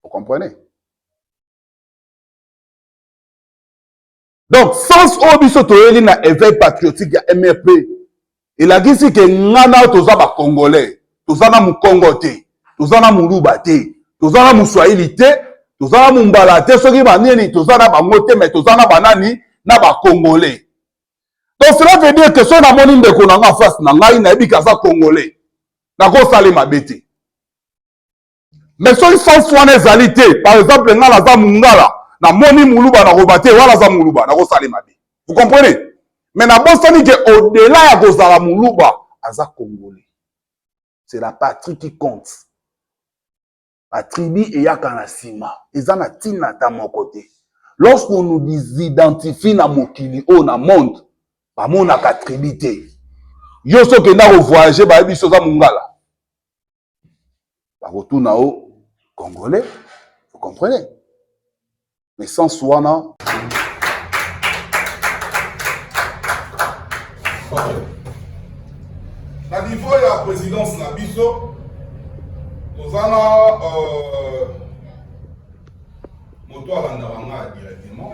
Vous comprenez Donc, sens oyo biso toyeli na éveil patriotique ya MRP, elakisi ke nga na toza ba Congolais, toza na Mukongo te, toza na Muluba te, toza na Muswahili te, toza na Mumbala te, soki banini toza na bango te, mais toza na banani na ba Congolais. Donc cela veut dire que soki namoni ndeko na nga face na ngai nayebi ke aza Congolais, nakosalema bete. mais soki sens wana ezali te par exemple ngai naza mungala namoni muluba nakoba te wana aza muluba nakosala mabe vous comprenez mais nabosani ke au-delà ya kozala muluba aza congolais c'est la patrie qui compte batribi eyaka na nsima eza na ntina ata moko te lorsque on nous disidentifie na mokili oyo na monde bamonaka tribi te yo so okenda kovoyage bayebi biso oza mongala bakotuna yo congolais vous comprenez mais sens wana na niveau ya présidence na biso toza na euh, moto alandaka ngai directement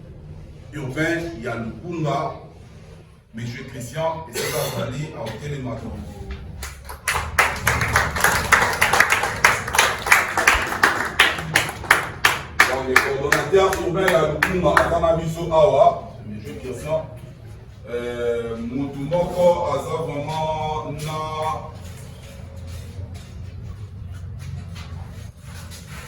urbain ya lukunga monsieur christian esika azali aotelema tongo coordonnateur urbain ya lukunga aza na biso awa monsieur christian euh, motu moko aza vraiment na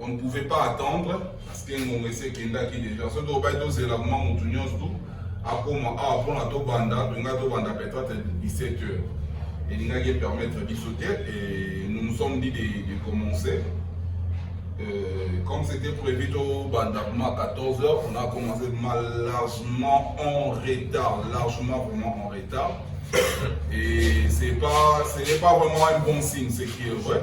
on ne pouvait pas attendre parce que ngonga esi ekendaki déjà soki obaki tozela kuma motu nyonso tu akoma awa mpona tobanda tolingai tobanda peut-être 17 heures elingaki epermettre biso te et nous nous sommes dit de, de commencer euh, comme c'était prévu tobanda kuma 14 heures on a commencé kuma largement en retard largement vraiment en retard et c'est pas ce n'est pas vraiment un bon signe c'est qui est vrai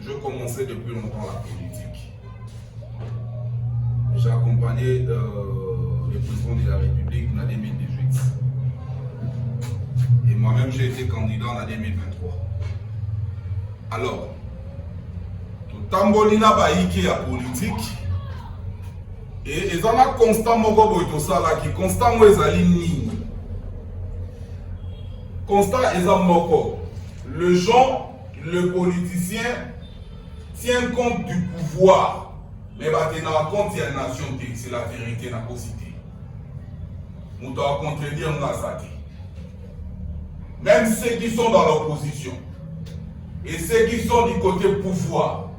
Je commençais depuis longtemps la politique. J'ai accompagné euh, le président de la République en 2018. Et moi-même, j'ai été candidat en 2023. Alors, totamboli na bayike ya politiki e eza na constant moko boye tosalaki constant yango ezali nini constant eza moko le gens Le politicien tient compte du pouvoir mais batengaka compte ya nation te c'est la vérité nakosi te moto akontredire nga aza te même ceux qui sont dans l'opposition et ceux qui sont du côté pouvoir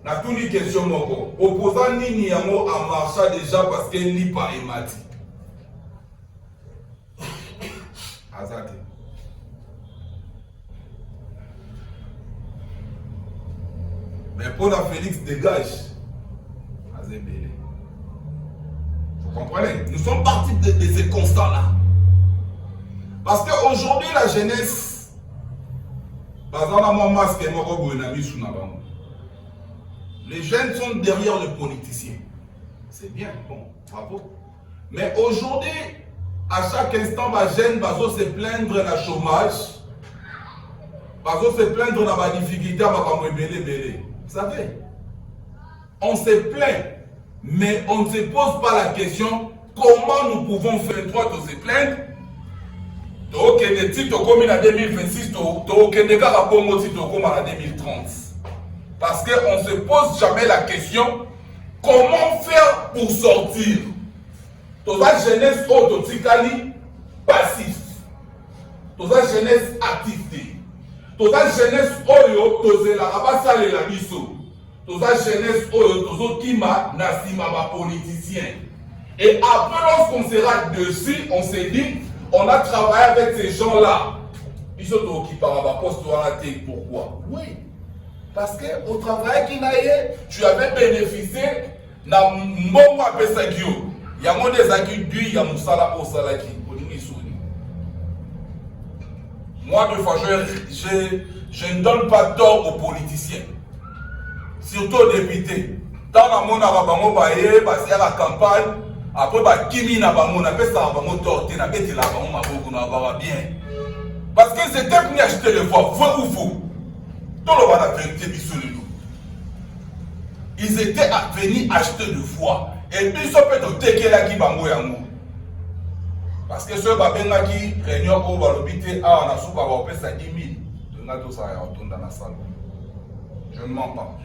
natuni question moko opposant nini yango amarcha déjà parce que lipa emati aza te mais mpo na félix dégage aza ebele vous comprenez nous sommes partis de, de ce constat là parce que aujourd'hui la jeunesse baza na mwa masque moko boye na misu na bango les jeunes sont derrière le politicien c'est bien bon bravo Mais aujourd'hui, à chaque instant, ba jeunes bazo se plaindre na chômage, bazo se plaindre na ba difficultés, ba bango ebele ebele. Vous savez, on se plaint, mais on ne se pose pas la question comment nous pouvons faire droit aux plaindre. tokende ti tokomi na 2026 tokende kaka bongo ti tokoma na 2030 parce que on se pose jamais la question comment faire pour sortir toza jeunesse oyo totikali passif toza jeunesse actif te toza jeunesse oyo tozelaka basalela biso toza jeunesse oyo tozokima na nsima bapoliticien et après lorsqu'on sera dessus on se dit on a travaillé avec ces gens là biso tookipaka baposte wana te pourquoi oui Parce que au travaillaki na ye, tu avais bénéficié na mbongo apesaki yo. Yango nde ezalaki dui ya mosala oyo osalaki. Olingi soni. Moi de fois je, je, je ne donne pas tort aux politiciens. Surtout aux députés. Ntango namonaka bango baye basalaka campagne apres bakimi na bango napesaka bango tort te nabetelaka bango maboko na baba bien parce que c'était venu acheter le voix vrai ou faux toloba na verité biso lelo ils étaient venus acheter le voix et biso mpe totekelaki bango yango parce que soki babengaki réunion oyo balobi te awa na suka baopesa 10 000 tolinga tosala ya kotonda na salon je ne mens pas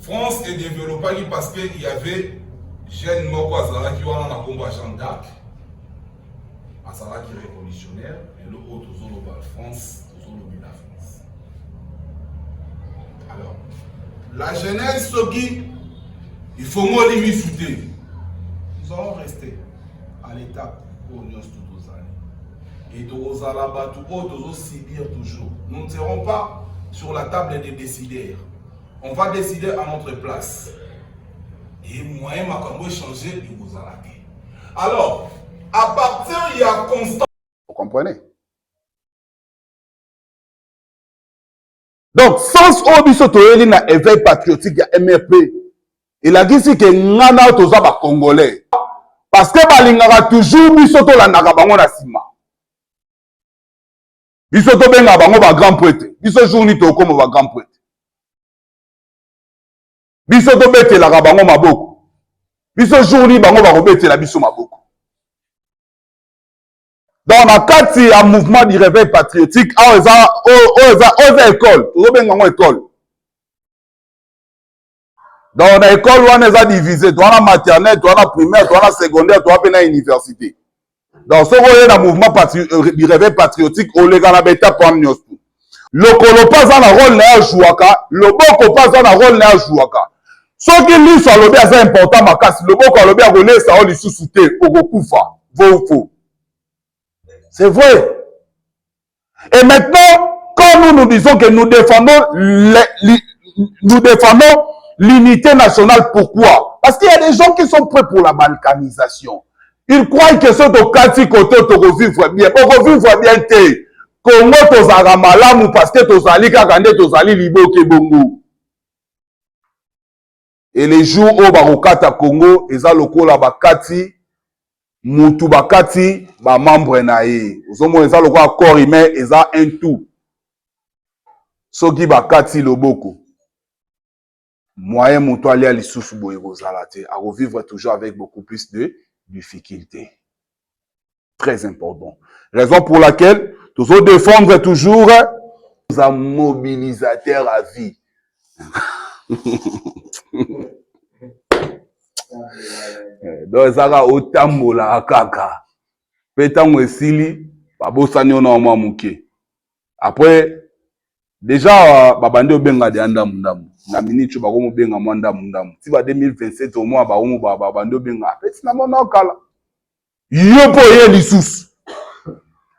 France e developaki parce que il y avait jeune moko azalaki wana na kombo ya Jean d'Arc azalaki révolutionnaire lelo oyo tozoloba France tozolobela France alors la jeunesse soki ifongoli misu te nous allons rester à l'état oyo nyonso to tozali et tokozala bato oyo tozosubir toujours nous ne serons pas sur la table des décideurs on va décider à notre place et moyen makambo echange ekozala te alors à partir ya constant vous comprenez donc sens oyo biso toyeli na éveil patriotique ya mrp elakisi ke nga na yo toza bacongolais parce que balingaka toujours biso tolandaka bango na nsima biso tobengaka bango bagrand prete biso jour nini tokoma bagrand prete biso tobetelaka bango maboko biso jour nini bango bakobetela biso maboko donc na kati ya mouvement du réveil patriotique awa eza oyo eza oyo eza ekole tozobenga yango ekole donc na ekole wana eza divise to wana maternelle to wana primaire to wana secondaire to wana mpe na université donc soki oye na mouvement euh, du réveil patriotique oleka na baetape wana nyonso lokolo mpe aza na role na ye ajuaka loboko mpe aza na role na ye ajuaka soki liso alobi aza important makasi loboko alobi akolesa yo lisusu te okokufa vofo c'est vrai et maintenant quand nous nous disons que nous défendons les, les, nous défendons l'unité nationale pourquoi parce qu'il y a des gens qui sont prêts pour la balkanisation il croit que soki tokati koto tokovivre bien okovivre bien te kongo tozalaka malamu parce que tozali kaka nde tozali liboke bongo et les jours oyo bakokata congo eza lokola bakati mutu bakati bamembre na ye ozomona eza lokola corps humain eza un tout soki bakati loboko Moyen mutu alia lisusu boye ekozala te, ako vivre toujours avec beaucoup plus de difficultes. Très important. Raison pour laquelle tozo défendre toujours un mobilisateur à vie. Eh, donc ezaka otambolaka kaka mpe ntango esili babosani yo na mwa moke apres Deja babandi obenga deja ndambu ndambu na minute oyo bakomi obenga mwa ndambu ndambu ti ba 2027 omwa bakomi babandi obenga apesi na mwana kala yo mpo oye lisusu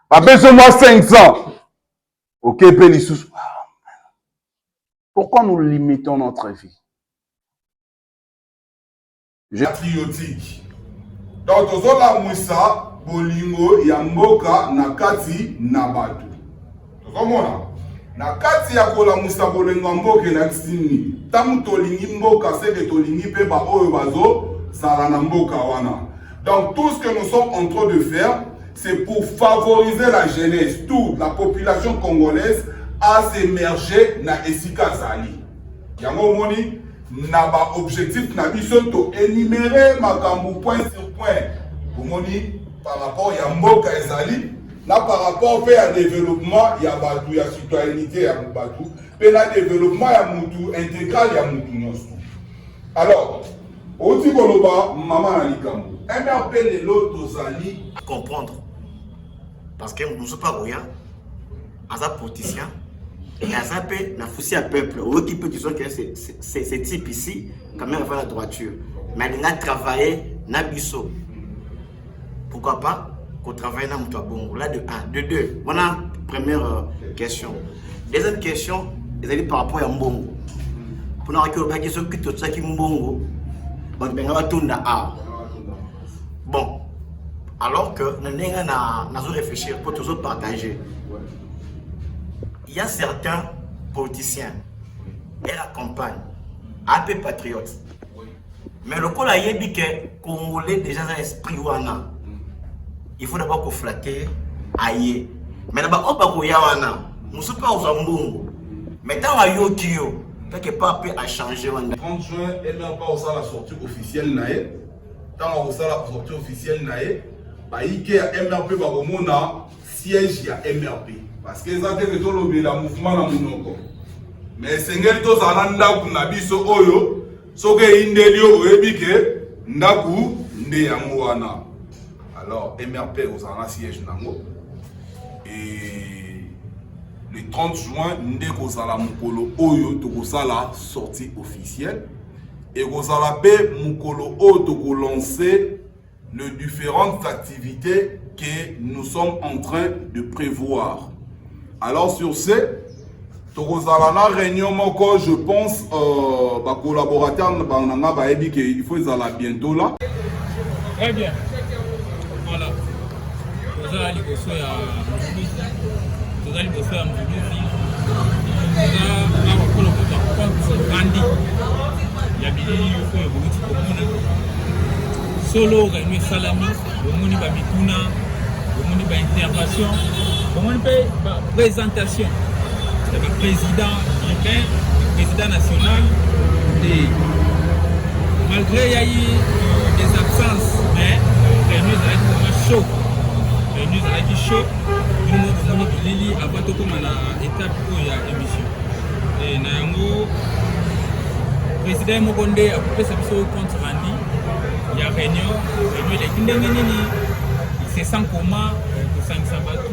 bapesi mwa 500 oke mpe lisusu pourquoi nous limitons notre vie Je... patriotique donc tozolamwisa bolingo ya mboka na kati na bato tozomona na kati ya kolamwisa bolingo ya mboka elakisi nini ntango tolingi mboka seke tolingi mpe baoyo bazozala na mboka wana donc tout ce que nous sommes en train de faire c'est pour favoriser la jeunesse toute la population congolaise à s'émerger na esika azali yango omoni na ba objectif na biso to enumere makambo point sur point bomoni par rapport ya mboka ezali na par rapport mpe ya développement ya bato ya citoyenneté ya bato mpe na développement ya mutu intégral ya mutu nyonso alors outi koloba mama na likambo mrp lelo tozali comprendre parce que moto mosusu mpe akoya aza politicien mais aza mpe na fusi ya peuple oyoki mpe disons que ce type ici quand même afa na droiture mais alinga travailler na biso pourquoi pas kotravaille na moto ya bongo la de 1 de 2 wana première euh, question deuxième question ezali par rapport ya mbongo mpona waki olobaki soki totyaki mbongo bato benga batunda awa bon alors que na ndenge nazo réfléchir mpo tozo partager il y a certains politiciens et la campagne ape patriote mais lokola ayebi ke congolais déjà aza esprit wana il faut d'abord koflatte aye mais na baoyo bakoya wana mosusu mpe akozwa mbongo mais ntango ayoki yo quelque part mpe achange wana 30 juin elapa osala sortie officielle na ye Ntango akosala sortie officielle na ye, bayike ya MRP bakomona siège ya MRP. Parce que eza te ke tolobela mouvement na monoko, mais esengeli tozala na ndako na biso oyo soki eyindeli yo oyebi ke ndako nde yango wana. Alors MRP ekozala na siège nango et le 30 juin nde kozala mokolo oyo tokosala sortie officielle Ekozala mpe mokolo oyo tokolanse le différentes activités que nous sommes en train de prévoir. Alors sur ce, tokozala na réunion moko je pense euh, ba collaborateurs na nga bayebi que il faut ezala bientôt là. Très bien. Toza liboso ya Mvuluzi, toza liboso ya Mvuluzi, toza awa mpo na kozwa compte grandi ya bilili oyo boluti komona. Solo réunion esalami, bomoni ba mituna, bomoni ba intervention, bomoni mpe ba presentation. Ezali president urbain, president national te. Malgré il y a eu des absences, mais réunion ezalaki vraiment chaud. Réunion ezalaki chaud. Bino bomoni bilili avant tokoma na étape oyo ya émission. Et na yango président moko nde akopesa biso compte rendu ya réunion. Réunion eleki ndenge nini? C'est sans comment kosangisa bato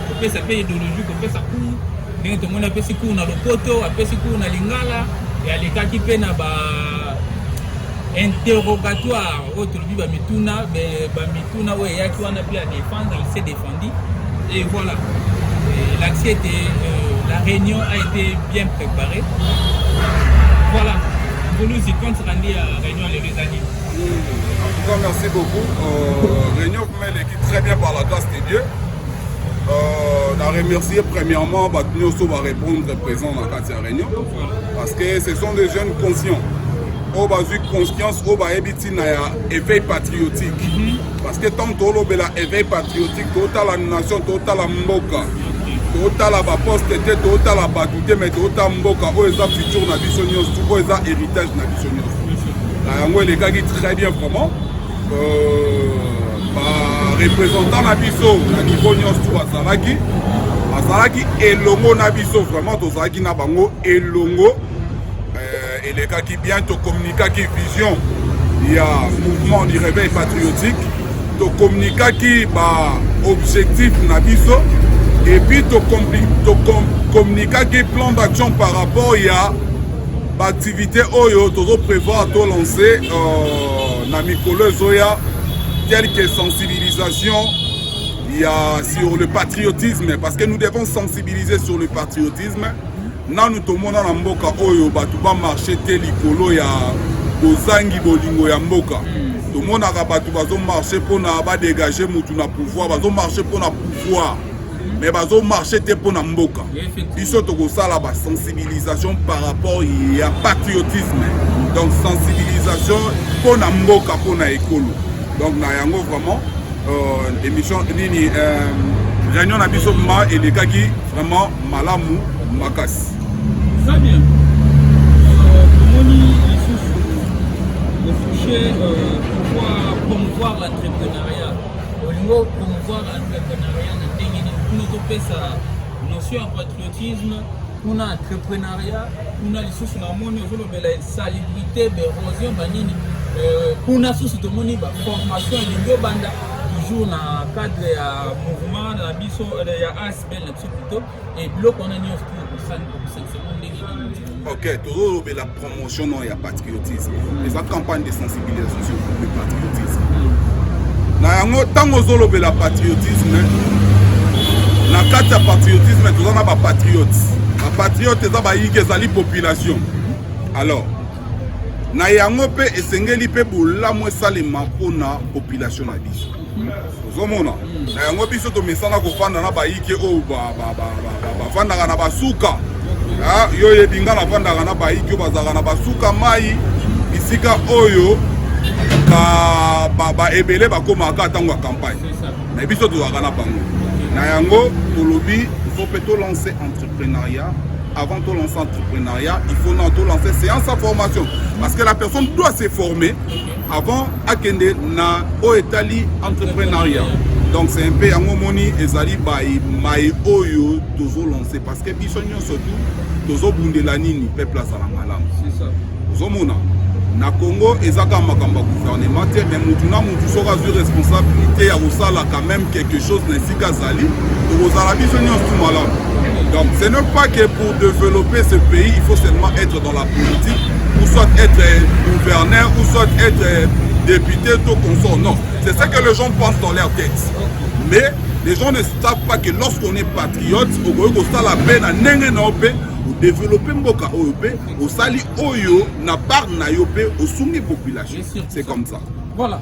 kopesa mpe ideologie kopesa cour ndenge tomoni apesi cour na lopoto apesi cour na lingala alekaki mpe na ba interrogatoire oyo tolobi bamituna bamituna oyo eyaki wana mpe adefendre il s'est défendu et voilà elakisi ete euh, la réunion a été bien préparée voilà boluzi contre andi ya réunion lelo eza nini en tout cas merci beaucoup euh, réunion vraiment eleki très bien par la grâce de dieu Euh, na remercier premièrement bato nyonso barépondre présent na kati ya réunion parce que ce sont des jeunes conscients oyo bazwi conscience oyo bayebi ntina ya éveil patriotique mhm. parce que ntango tolobela éveil patriotique totala nation totala mboka totala baposte te totala bato te mai totala mboka oyo eza futur na biso nyonso oyo eza héritage na biso nyonso na yango elekaki très bien vraiment barepresentant na biso na niveau nyonso tu bazalaki bazalaki elongo na biso vraiment tozalaki na bango elongo euh, elekaki bien tokommunikaki vision ya mouvement du réveil patriotique tokommunikaki baobjectif na biso epuis tokommunikaki plan d'action par rapport ya baactivité oyo tozo prévoir tolancer euh, na mikolo ezoya quelque sensibilisation ya sur le patriotisme parce que nous devons sensibiliser sur le patriotisme nanu tomona na mboka oyo bato bamarche te likolo ya bozangi bolingo ya mboka tomonaka bato bazomarche mpona badegage motu na pouvoir bazomarche mpona pouvoir mais bazo marche te mpo na mboka biso tokosala basensibilisation par rapport ya patriotisme donc sensibilisation mpo na mboka mpo na ekolo donc na yango vraiment euh, émission nini euh, réunion na biso ma elekaki vraiment malamu makasi très bien euh, tomoni lisusu ofouche euh, pouvoir promouvoir l'entrepreneuriat olingi opromouvoir entrepreneuriat na ndenge nini kuna topesa notion ya patriotisme kuna entrepreneuriat kuna lisusu namoni ozolobela insalubrité berosion banini euh, kuna susu tomoni baformation elingi obanda toujours na cadre ya mouvement na biso euh, ya asbl na biso plutôt Eh, biloko wana nyonso okosangisama ndenge nini ok tozolobela promotion no ya patriotisme eza campagne de sensibilisation sur le patriotisme na yango ntango ozolobela patriotisme na kati ya patriotisme toza na bapatriote bapatriote eza bayike ezali population alors na yango mpe esengeli mpe bolamu esalema mpona population na biso ozomona na yango biso tomesana kofanda na bayike oyo bafandaka na basuka ah, yo oyebi ngai nafandaka na bayike oyo bazalaka na basuka mai bisika oyo baebele bakomaka ntango ya campagne na biso tozalaka na bango na yango tolobi fo mpe tolanse entrepreneuriat avant de lancer l'entrepreneuriat, il faut lancer séance à formation. Parce que la personne doit se former avant akende na oyo etali entreprenariat donc c'est un peu yango omoni ezali baye maye oyo tozolance parce que biso nyonso tu tozobundela nini peuple azala malamu ozomona na congo eza kaka makambo ya gouvernement te mais motu na motu soki azwi responsabilité ya kosala quand même quelque chose na esika azali tokozala biso nyonso tu malamu donc ce n'est pas que pour développer ce pays il faut seulement être dans la politique ou soit être euh, gouverneur ou soit être euh, député tout consort non c'est ça que les gens pensent dans leur tête mais les gens ne savent pas que lorsqu'on est patriote okoki kosala mpe na ndenge na yo mpe odevelope mboka oyo mpe osali oyo na part na yo mpe osungi population c'est comme ça voilà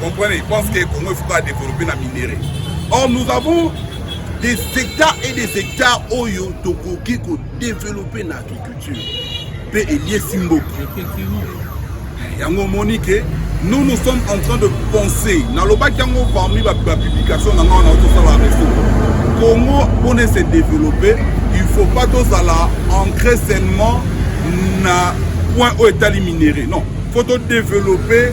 Comprenez, ils pensent que Congo il faut pas développer la minerais. Or nous avons des hectares et des hectares oyo tokoki ko développer na agriculture pe eliesi mboka. Yango omoni ke nous nous sommes en train de penser nalobaki yango parmi bapublication na ngai wana otosala reseau congo mpona ese développer il faut pas tozala ancré seulement na point oyo etali minerais non faut todévelopper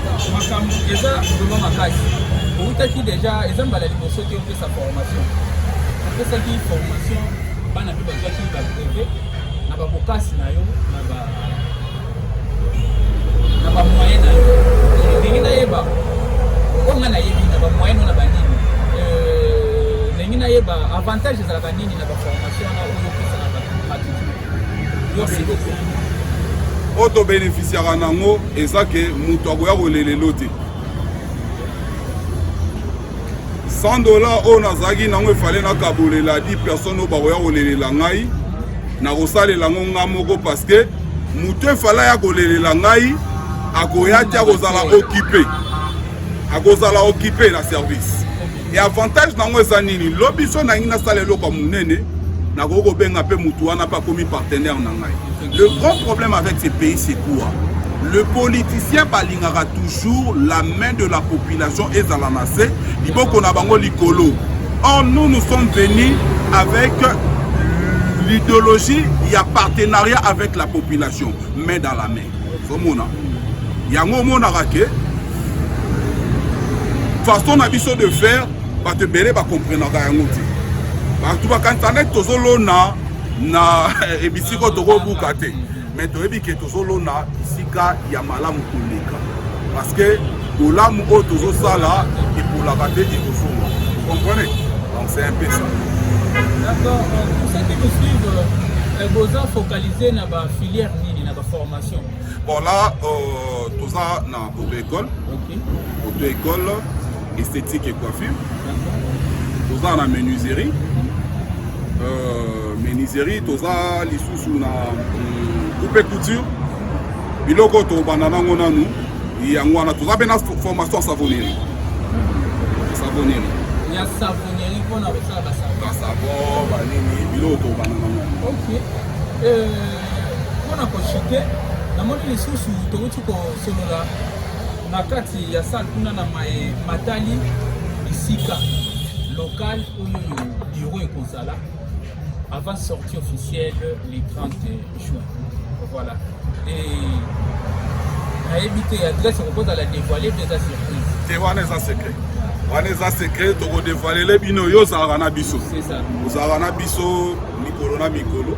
makambo eza vraimen makasi outaki deja eza mbala liboso te opesa formation opesaki formation bana mpe bazwaki babreve na babokasi na yo na bamoyen na yo ndenge nayeba oyo ngai nayebi na bamoyen no na banini euh, ndenge nayeba avantage ezalaka nini na baformation na oyo Merci beaucoup. oyo tobeneficiaka nango eza ke moto akoya kolelelo te 100 dollar oyo nazalaki nango efale nakabolela 10 personne oyo bakoya kolelela ngai nakosalela yango ngai moko parceke moto efale aya kolelela ngai akoya te akozala okipe akozala okipe na service e avantage na yango eza nini lobi so nangi nasala eloko ya monene nakoki kobenga mpe motu wana mpe akomi partenaire na ngai le grand problème avec ce pays c'est quoi le politicien balingaka toujours la main de la population ezala na se liboko na bango likolo or nous nous sommes venus avec l'idéologie ya partenariat avec la population main dans la main ozomona yango omonaka ke façon na biso de faire bato ebele bakomprenaka yango te bato bakanisa neti tozolona na ebisika oyo tokobuka te mais toyebi ke tozolona bisika ya malamu koleka parce que bolamu oyo tozosala epolaka te ekozonga comprene donc c'est un peu ça d'accord pour ceux qui nous suivent euh, boza focaliser na ba filière Bon là, euh, tout ça dans auto-école. Okay. Auto-école, esthétique et coiffure. Tout ça dans menuiserie. Euh, menuiserie, tout ça, les sous-sous dans euh, coupe et couture. biloko tobanda nango nanu yango wana toza mpe na formation ya savonnerie savonnerie ya savonnerie mpona kosala basavon banini biloko tobanda nango okay. euh... mpo na koshite namoni lisusu towuti kosolola na kati ya sale kuna na maye matali bisika local oyo biro ekozala avant sortie officielle le 30 juin. Voilà. Et nayebi te adresse okozala dévoile mpe eza surprise te wana eza secret wana eza secret tokodevoilele bino yo ozalaka na biso ozalaka na biso mikolo na mikolo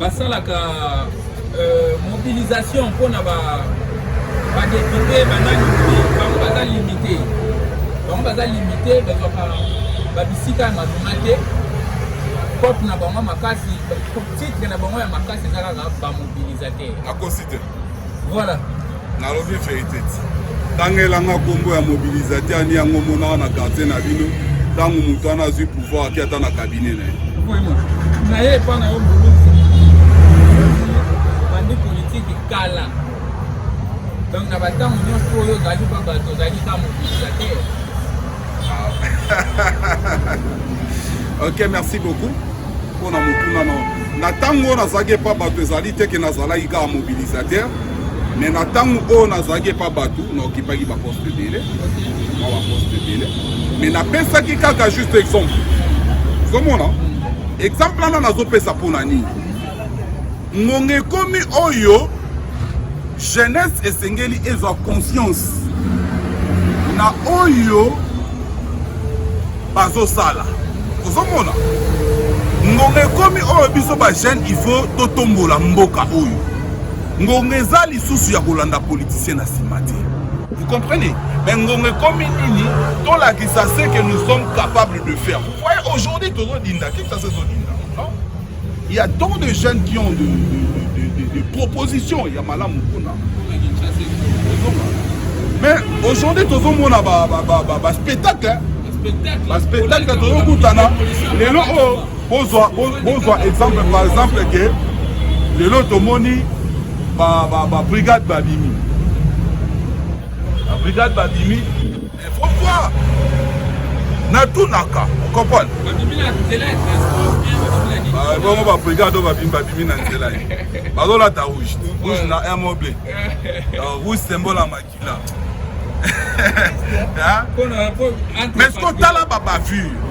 basalaka euh, mobilisation mpo na badepute banani bango baza limite bango baza limite bazwaka babisika ya malonga te cope na bango makasi titre na bango ya makasi eza kaka bamobilisateur Voilà. nalobi verite ti tangelanga nkombo ya mobilisateur ani yango monaka na quartier na bino ntango moto wana azwi pouvoir ake ata na cabinet na ye na ye epa na yo mbuluzi bandi politiki kala donc na bantango nyonso oyo ozali mpa bato ozali ka mobilisateur ah. ok merci beaucoup mpo na motuna na na ntango oyo nazalaki epa bato ezali te ke nazalaki kaka mobilisateur me na ntango oyo nazalaki epa bato naokipaki baposte ebele na baposte ebele me napesaki kaka juste exemple ozomona exemple wana nazopesa mpo na nini ngonga ekomi oyo jeunesse esengeli ezwa conscience na oyo bazosala ozomona ngonga ekomi oyo biso bajeune il faut totombola mboka oyo ngonga eza lisusu ya kolanda politicien na nsima te vous comprenez mais ngonga ekomi nini tolakisa ce que nous sommes capables de faire vous voyez aujourd'hui tozodinda kikasa ezodinda Il y a tant de jeunes qui ont de, de, de, de, de propositions ya malamu kuna mais aujourd'hui tozomona baspectacle baspectacle tozokutana lelo oyo bozwa bozwa exemple par exemple ke lelo tomoni babrigade babimi babrigade babimi Pourquoi natunaka comprendre bongo babrigade oyo babimi babimi na nzela ye bazolata rouge rouge na air moble rouge sembola makila mais sikoyo tala babavure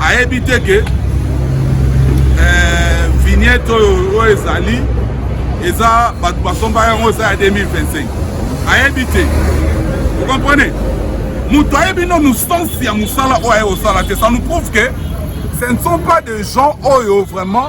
ayebi te ke eh, vignette oyo oyo ezali eza bato basomba yango eza ya 2025 ayebi te okomprene moto ayebi nanu sens ya mosala oyo aye kosala te ça nous prouve que ce ne sont pas des gens oyo vraiment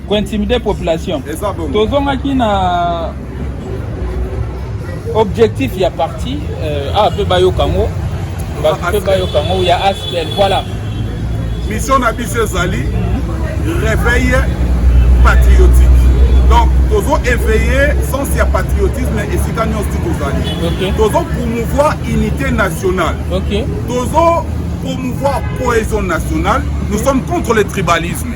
ko intimider population tozongaki na objectif ya parti euh, ah pe bayoka ngo bato pe bayoka ngo ya aspel voilà mission na biso ezali réveille patriotique donc tozo éveiller sens ya patriotisme esika nyonso ti tozali tozo promouvoir unité nationale tozo promouvoir cohésion nationale nous sommes contre le tribalisme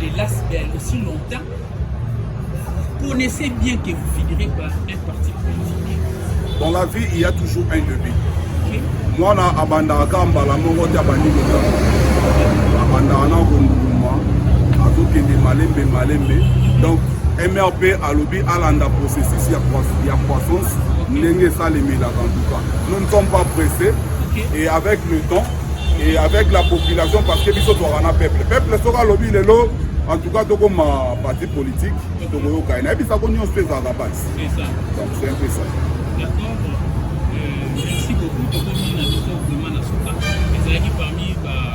de l'ASBL aussi longtemps, vous connaissez bien que vous finirez par un parti politique. Dans la vie, il y a toujours un début. Okay. mwana abandaka kaka mbala moko te abandi kotambo abandaka na konduluma azokende malembe malembe donc mrp alobi alanda processus ya croissance ndenge esalemelaka ntuka nous ne sommes pas pressés et avec le temps et avec la population parce que biso tozalaka na peuple peuple soki alobi lelo en tout cas tokoma parti politique tokoyoka ye nayebisa ko nyonso ezalaka basi donc c'est un peu ça euh, merci beaucoup tokomi na biso vraiment na suka ezalaki parmi ba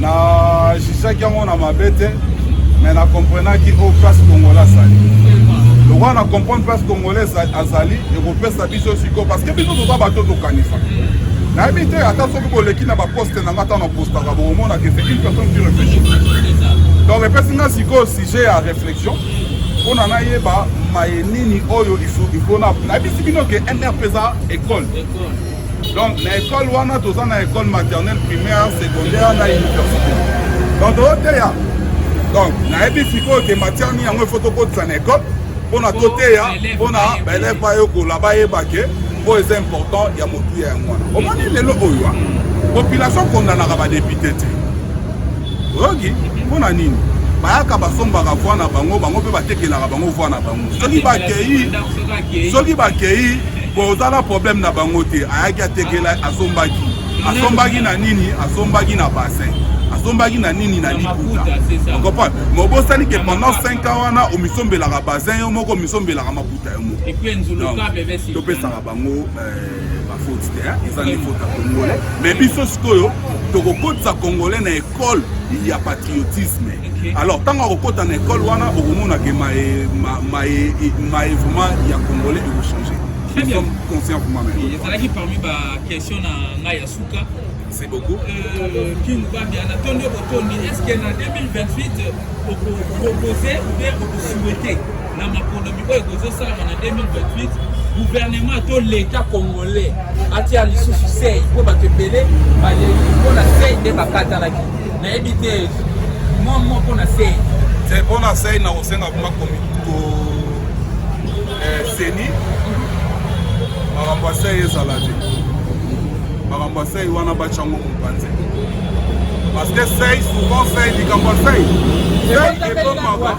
na jugaki yango na mabe te mais na comprenaki oyo oh, place congolais azali lokola na comprendre place congolais azali ekopesa biso sikoyo parce que biso toza bato tokanisa nayebi te ata soki boleki na baposte na nga ata na postaka bokomonaka ese une personne qui réfléchit donc epesi nga sikoyo sujet ya réflexion mpona nayeba maye nini oyo ifona nayebisi bino ke mrp eza école donc na école wana toza na école maternelle primaire secondaire na université donc toteya donc nayebi sikoyo ke matière nini yango ifo tokotisa na école mpona toteya mpona baelève bayekola bayeba ke oyo eza important ya motuya yango wana omoni lelo oyo population kondanaka badepute te oyoki mpo na nini bayaka basombaka voi na bango bango mpe batekelaka bango voi na bango soki bakei soki bakei boza na problème na bango te ayaki atekela asombaki asombaki na nini asombaki na bassin asombaki na nini na liputa okopa ma obosani ke pendant 5 ans wana omisombelaka bazin yo moko omisombelaka maputa yo moko topesaka bango eh, bafoti te eza nde foti ya congolais me biso sikoyo tokokotisa congolais na ekole ya patriotisme alors ntango akokota na ekole wana okomona ke maevema ya congolais ekochange conscient pour moi-même ezalaki parmi baquestion na ngai ya suka c'est beaucoup euh, king bambi anatondi okotondi est ce que na 2028 okopropose ou bien okosouhaite na maponomi oyo ekozosalama na 2028 guvernema to leta congolais atia lisusu sei mpo bato ebele baleli mpo na sei nde bakatanaki nayebi te mwa mwa mpo na sei te mpo na sei nakosenga kuma seni eh, makambo ya sei ezala te makambo ya sei wana batyango mopanzi parce que sei souvent sei likambo ya sei sei ekomaka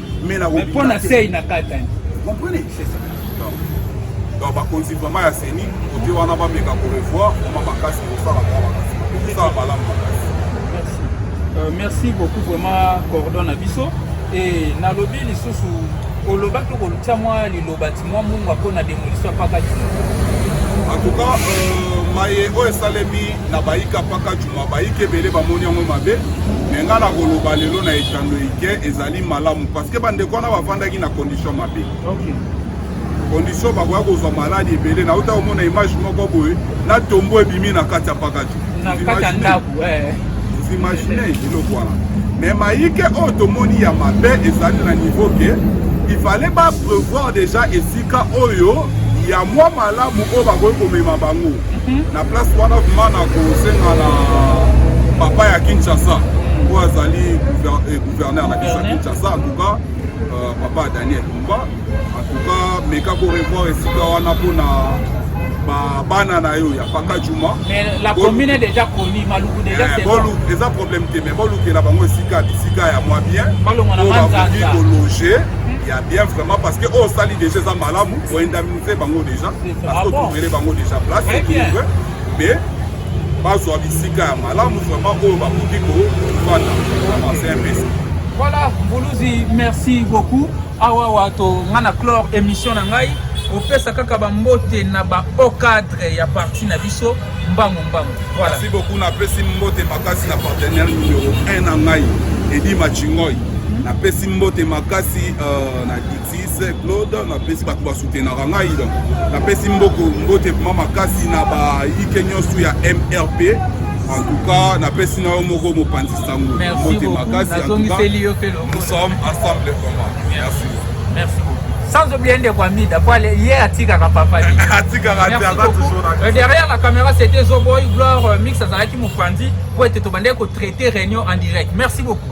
mais na mais pona sey na katani comprenez c'est ça donc bakonzi vraiment ya seni kote wana bameka korevoir vraiment makasi kosala mwa makasi kosala malamu makasi euh, merci beaucoup vraiment cordon na biso e nalobi lisusu oloba to kolutya mwa liloba ti mwa mungwa mpo na demolition ya paka juma en tout cas euh, maye oyo esalemi na bayika paka juma bayika ebele bamoni yango mabe me ngai nakoloba lelo na etando ike ezali ezali malamu parce que bandeko wana bavandaki na condition mabe okay. condition bakoya kozwa maladi ebele nauta komona image moko boye na tombo ebimi na kati ya pakati imagine eloko wana mais mayike oyo tomoni ya mabe ezali na niveau ke il fallait ba prévoir déjà esika oyo ya mwa malamu oyo bakoki komema bango mhm. na place wana vraimen na kosenga na papa ya kinshasa oyo azali eh, gouverneur na biso ya kinshasa antuka euh, papa daniel lumba antuka meka korevoir esika wana mpona bana na yo ya paka juma eza problème te mais bolukela bango esika bisika ya mwa bien bakoki kologe ya bien vraiment parce que oyo osali déjà eza malamu oindemnise bango déjà parce que otouvele bango déjà place mais bazwa bisika ya malamu vraiment oyo bakoki kofanda asenpesa voilà mbuluzi merci beaucoup awa wato nga na clore émission na ngai opesa kaka bambote na bahaut cadre ya parti na biso mbangu mbangu voilà. merci beaucoup napesi mbote makasi na partenaire numero 1 na ngai edi machingoy napesi mbote makasi uh, na Sise Claude napesi bato basutenaka ngai donc napesi mboko mbote mma makasi na bayike nyonso ya mrp en tout cas napesi na yo moko mopanzi sango mbote makasi en tout cas nous sommes ensemble vraiment merci merci beaucoup sans oublier ndeko amida po ye atikaka papa atikaka te aza toujours na euh, derrière la caméra c'était zoboy gloire euh, mix azalaki mopanzi po ete tobandaki kotraite réunion en direct merci beaucoup